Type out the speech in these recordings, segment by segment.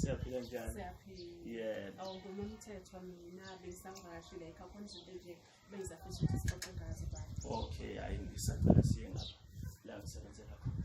siyaphila njani yebo awungona umthetho mina besangakashi la ekhaya khona izinto nje beyizafisa ukuthi sixoxe ngazo bani okay hayi ngisacela siye ngapha la ngisebenzela khona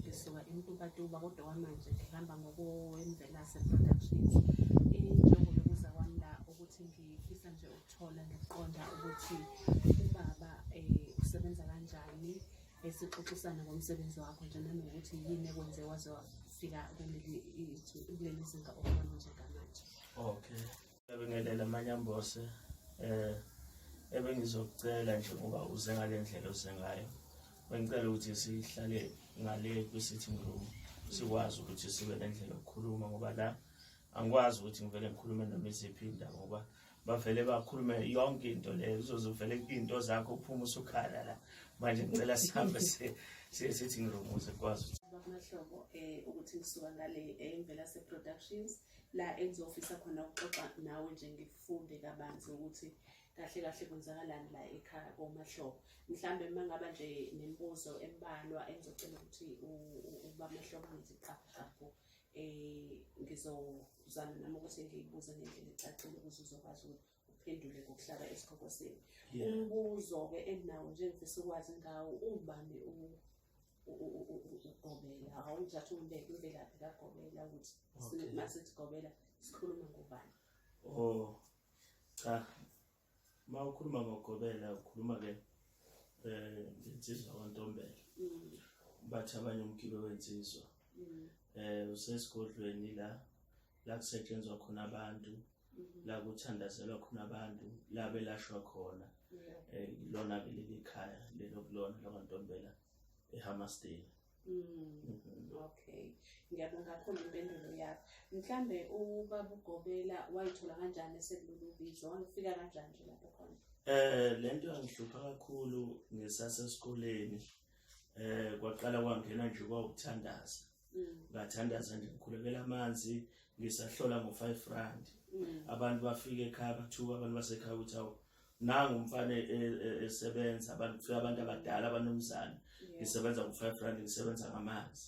ngisuka emtubatuba kodwa kwamanje ngihamba ngokwemvelase productions injongo yokuza kwami la ukuthi ngifisa nje ukuthola ngiqonda ukuthi ubaba um usebenza kanjani esixoxisana ngomsebenzi wakho nje nanokuthi yini ekwenze waze wafika kuleli zinga okubona njengamanje okay Ngiyabingelela Manyambose eh ebengizokucela nje ngoba uze ngale ndlela oze ngayo bengicela ukuthi sihlale ngale kwi-sitting room sikwazi ukuthi sibe nendlela yokukhuluma ngoba la angikwazi ukuthi ngivele ngikhulume noma iziphi indaba ngoba bavele bakhulume yonke into leyo uzoze uvele into zakho uphuma usukhala la manje ngicela sihambe siye-sitting room ukuze kukwazi ukuthi um ukuthi ngisuka ngale emvela eh, se-productions la engizofisa khona ukuxoxa nawe nje ngifunde kabanzi ukuthi kahle kahle kwenzakalani la ekhaya komahlobo mhlawumbe uma ngaba nje nemibuzo embalwa engizocela ukuthi ubamahlobo ngithi qaqaqo um eh, ngizozama nami ukuthi ngiyibuze ngendlela ecacile ukuze uzokwazi ukuthi uphendule ngokuhlaba isikhoko senu umbuzo-ke enginawo nje ngifisa ukwazi ngawo ungubani ugobela awungithatha umbeke imvelaphi kagobela ukuthi masithi gobela sikhuluma ngobani o oh, cha ma ukhuluma ngogobela ukhuluma-ke um ngensizwa kwantombela mm. bathi abanye umgibe wensizwa um mm. eh, usesigodlweni la la kusetshenzwa khona abantu mhm. la kuthandazelwa khona abantu la belashwa khona eh, lona ke leli khaya lelo kulona lakwantombela ehamastela Mm. Mhm. Okay. Ngiyabonga kakhulu impendulo yakho. Mhlambe ubaba ugobela wayithola kanjani esekulolu bizo? Wangifika kanjani nje lapho khona? Eh lento yangihlupha kakhulu ngisasesikoleni. Eh kwaqala kwangena nje kwawukuthandaza. mm. ngathandaza nje ngikhulekela amanzi ngisahlola ngo-five rand mm. abantu bafike ekhaya bathuka abantu basekhaya ukuthi awu nangu umfana e, e, e, esebenza abantu kufika abantu abadala abanomzane ngisebenza ngo-five rand ngisebenza ngamanzi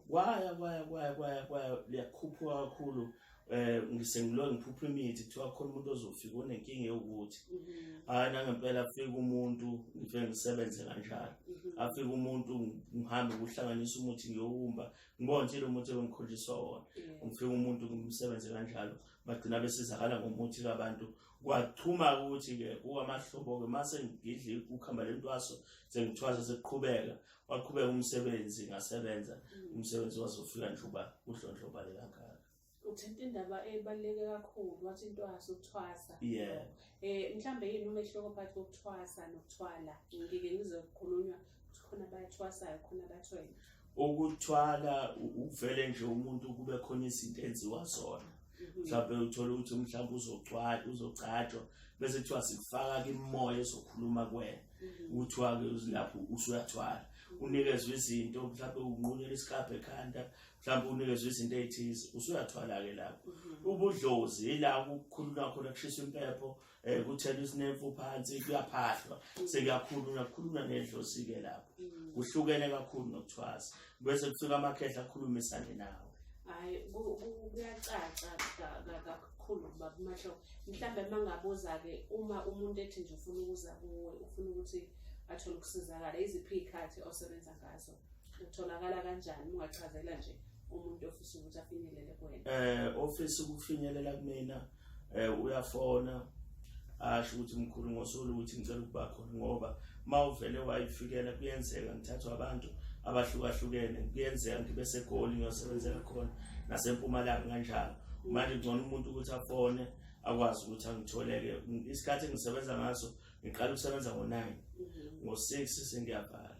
kwaya kwaya kwaya kwaya kwaya liyakhuphuka kakhulu yeah. eh ngisengilo ngiphupha imithi kuthiwa khona umuntu ozofika unenkinga yokuthi mhm. hayi nangempela afike umuntu ngife ngisebenze kanjalo mhm. afike umuntu ngihambe ukuhlanganisa umuthi ngiyowumba ngibona nje lo muthi engikholiswa wona ngifike umuntu ngimsebenze kanjalo bagcina besizakala ngomuthi kabantu kwathuma ukuthi ke kuwamahlobo ke mase ngidli ukuhamba lentwaso sengithwasa sekuqhubeka waqhubeka umsebenzi ngasebenza mm. umsebenzi wazofika nje uba udlondlobale kangaka uthinta indaba ebaluleke kakhulu wathi into yaso ukuthwasa yeah eh mhlambe yini umehluko phakathi kokuthwasa nokuthwala ngike ngize kukhulunywa ukuthi khona abathwasayo khona abathwele ukuthwala uvele nje umuntu kube khona izinto enziwa zona Mhm. mhlawumbe uthole ukuthi mhlawumbe uzogcwala uzogcatshwa bese kuthiwa sikufaka kimoya ezokhuluma kuwena mhm. kuthiwa ke lapho usuyathwala mhm. unikezwe izinto mhlawumbe unqunyela isikabhe ekhanda mhlawumbe unikezwe izinto ezithize usuyathwala ke lapho ubudlozi yila ukukhuluma khona kushisa impepho eh kuthela isinemfu phansi kuyaphahlwa sekuyakhulunywa kukhulunywa nendlosike lapho mm. kuhlukene kakhulu nokuthwasa bese kufika amakhehla akhulumisane nawo hayi kuyacaca kakhulu ukuba kumahlo mhlawumbe mangabuza-ke uma umuntu ethi nje ufuna ukuza kuwe ufuna ukuthi athole ukusizakala iziphi iy'khathi osebenza ngazo utholakala kanjani ungachazela nje umuntu ofisa ukuthi afinyelele kuwena um ofisa ukufinyelela kumina eh uyafona asho ukuthi mkhulu ngosolo ukuthi ngicela ukuba khona ngoba mawuvele wayifikela kuyenzeka ngithathwa abantu abahlukahlukene kuyenzeka ngibe segoli ngiyosebenzela khona nasempumalanga kanjalo manje ngcono umuntu ukuthi afone akwazi ukuthi angitholeke isikhathi engisebenza ngaso ngiqala ukusebenza ngo-9 mhm. ngo-6 sengiyavala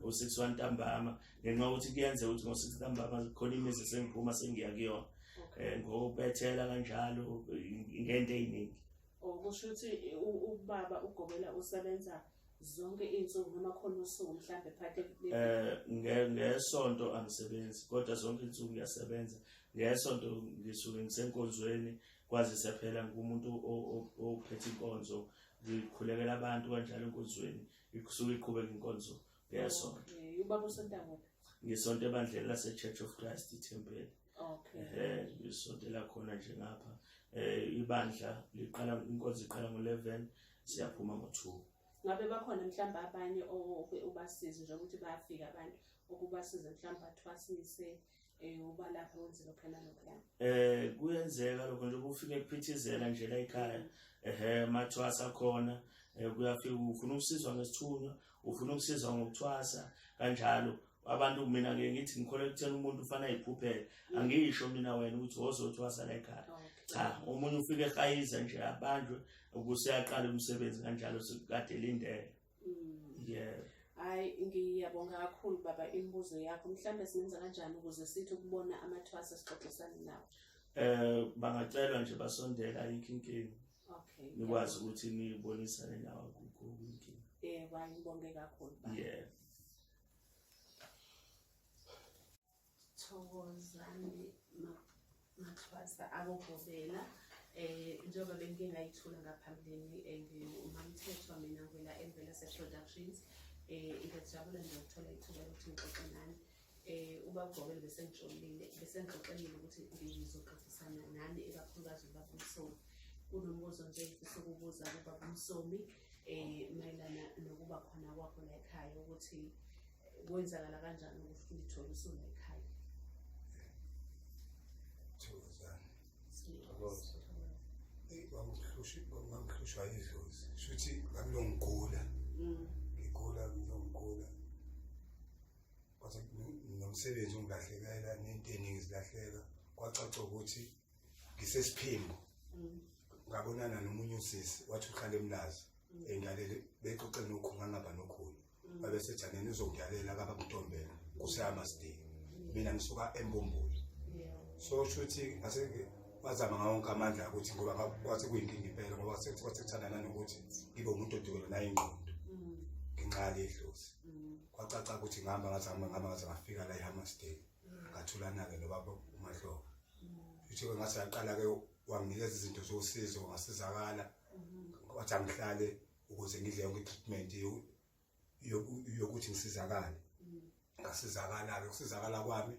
u-6 wantambama ngenxa ukuthi kuyenzeka ukuthi ngo-six ntambama khona imizi sengiphuma sengiya kuyona um ngobethela kanjalo ngento ey'ningi oh, kusho ukuthi ubaba ugobela usebenza zonke iy'nsuku noma khona usuku mhlawumbe phakathi um ngesonto angisebenzi kodwa zonke iy'nsuku ngiyasebenza ngesonto ngisuke ngisenkonzweni kwazise phela ngumuntu ophethe inkonzo ngikhulekela abantu kanjalo enkonzweni isuke iqhubeka inkonzo ngeyasonto Eh, ubaba usonta kuphi ngisonto ebandleni lase-church of christ ithempeli okay um ngisonto lakhona nje ngapha um ibandla liqala inkonzo iqala ngo-eleven siyaphuma ngo-two ngabe bakhona mhlawumbe abanye oke ubasize nje ukuthi bayafika abantu okubasiza mhlawumbe bathwasise eh uba lapho wenze lokho nalokho la eh kuyenzeka lokho nje kufike kuphithizela nje la ekhaya ehe mathwasa khona eh, kuyafika ufuna ukusizwa ngesithunywa ufuna ukusizwa ngokuthwasa kanjalo abantu mina ke ngithi ngikholwa ekutheni umuntu ufana ayiphuphele mm. angisho mina wena ukuthi wozothwasa la ekhaya cha omunye ufike ehayiza nje abanjwe ukuseyaqala umsebenzi kanjalo sekukade lindele Mm. Yeah. Hayi ngiyabonga kakhulu baba imibuzo yakho mhlawumbe singenza kanjani ukuze sithi ukubona amathwasa sixoxisane nawo. Eh bangacelwa nje basondela ayikho inkinga. Okay. Nikwazi ukuthi nibonisane nawo kukho inkinga. Eh wayibonge kakhulu baba. Yeah. Thokozani Maxhwasa akugobela eh njengoba bengike ngayithula ngaphambilini eh, ngumamthethwa mina ngwela emvela seproductions eh ngiyajabula nje ukuthola ithuba lokuthi ngixoxe nani eh ubagobele bese ngijolile bese ngixoxelile ukuthi ngizoxoxisana nani ekakhulukazi ubaba Msomi kunombuzo nje ngifisa ukubuza kubaba Msomi eh mayelana nokuba khona kwakho la ekhaya ukuthi kwenzakala kanjani ukuthi ulithole usunekhaya thokozani thokoza kwakuhlushwa idlozi shuthi ngangilongigula mm. ngigula ngilongigula kwathi nomsebenzi ungilahlekela nento eningi zilahleka kwacaca ukuthi ngisesiphimbo mm. ngabonana nomunye usisi wathi uhlala emlazi mm. engalele bexoxe nokhu ngangaba nokhulu babesethaneni uzokudalela kabamtombela kuseyamasdini mina ngisuka embumbulu so shuthi ngase bazama ngawo wonke amandla ukuthi ngoba kwase kuyinkinga impela ngoba kwasekuthandana nokuthi ngibe umuntu odukelwe nayo ingqondo ngenxa yalidlozi kwacaca ukuthi ngihamba ngaze hamba ngihamba ngaze ngafika la ehammersdale ngathulana-ke nobaba umahlobo futhi-ke ngase yaqala-ke wanginikeza izinto zosizo ngasizakala wathi angihlale ukuze ngidle yonke treatment yokuthi ngisizakale mm. ngasizakala-ke ukusizakala kwami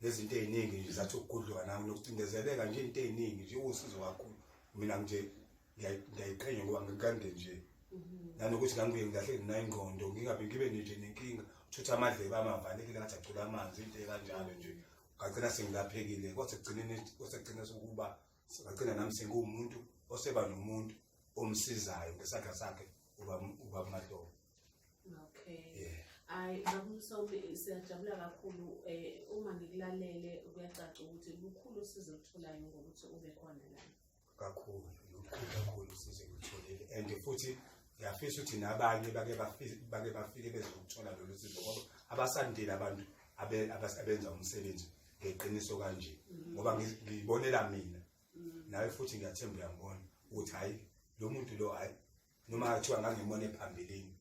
nezinto ey'ningi nje zathi ukugudluka nami nokucindezeleka nje into ey'ningi nje uwusizo kakhulu mina nje ngiyayiqhenya ngoba ngikande nje mm-hmm. nanokuthi ngangibuye ngilahleke nginayo ingqondo ngingabe ngibe nje nenkinga uthutha amadlebe amavalekile ngathi agcula amanzi into ekanjalo nje ngagcina sengilaphekile kwasekugcineni kwasekugcina sokuba Sibagcina nami sengumuntu oseba nomuntu omsizayo ngesaga sakhe uba uba kumadolo. Okay. Yeah. Ay bakumsomi siyajabula kakhulu eh uma ngikulalele kuyacaca ukuthi lukhulu usizo olutholayo ngokuthi ube khona la. Kakhulu, lukhulu kakhulu usizo olutholile and futhi ngiyafisa ukuthi nabanye bake bafike bake bafike bezokuthola lolu sizo ngoba abasandile abantu abenza umsebenzi ngeqiniso kanje mm. ngoba ngibonela mina mm. nawe futhi ngiyathemba uyangibona ukuthi hayi lo muntu lo hayi noma kuthiwa ngangimona ephambilini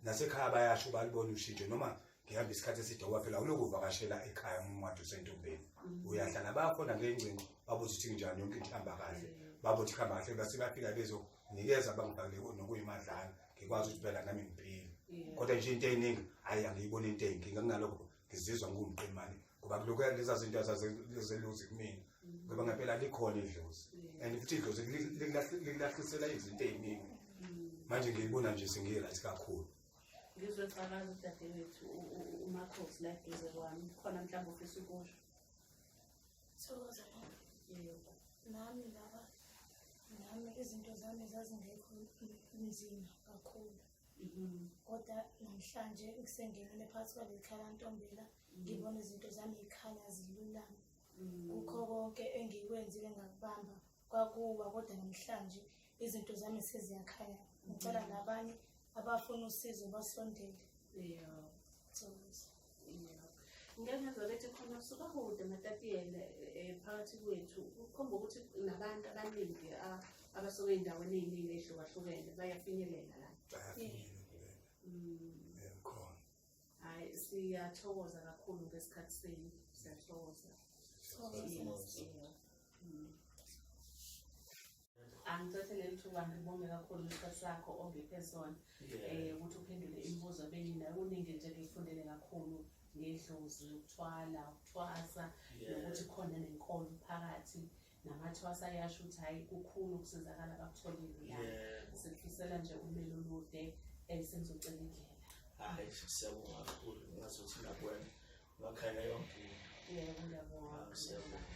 nasekhaya bayasho balibona ushintsho noma ngihamba isikhathi eside ngoba phela uloku uvakashela ekhaya umncwadi usentombeni mm. uyahlala bakhona kule ngcingo babuze ukuthi kunjani yonke into ihamba kahle babuthi kuhamba kahle base bafika bezonikeza bangibhakele nokuyimadlana ngikwazi ukuthi phela nami ngiphile kodwa nje into eyiningi hhayi angiyiboni into eyinkinga kunalokho ngizizwa ngumqemane ngoba kulokhu leza zinto azazeluzi kumina ngoba ngempela likhona idlozi and futhi idlozi likulahlisela izinto eziningi manje ngiyibona nje sengiyight kakhulu ngizwe calaza udadewethu umakhosi la duze kwami khona mhlawumbe ufisa ukusho thokoza yebo nami laba nami izinto zami zazingekho nzima kakhulu Mm-hmm. Kodwa namhlanje ngisengenile phakathi kwaleli khala ntombela mm-hmm. ngibona izinto zami yikhanya zilulama. Mm-hmm. Kukho konke engikwenzile ngakubamba kwakuwa kodwa namhlanje izinto zami seziyakhanya. Ngicela nabanye abafuna usizo basondele. Yeah. So. ngiyangezwa bethi khona sukahude matatiyele um phakathi kwethu kukhomba ukuthi nabantu abaningi abasuke ey'ndaweni ey'ningi ey'hlukahlukene bayafinyelela la khona hhayi siyathokoza kakhulu ngesikhathi senu siyathokoza angicethe leli thuba ngibonge kakhulu isikhathi sakho ongiphe sona um ukuthi uphendule imibuzo benginayo kuningi nje ngiyifundele kakhulu ngedlozi ukuthwala ukuthwasa nokuthi khona nenkolo phakathi namathwasa ayasho ukuthi hhayi kukhulu ukusizakala bakutholile la sikufisela nje umele olude um sengizocela indlela hhayi siyabonga kakhulu ngazi ukuthi nakwena ngakhayela yonke into yebo ngiyabonga ah,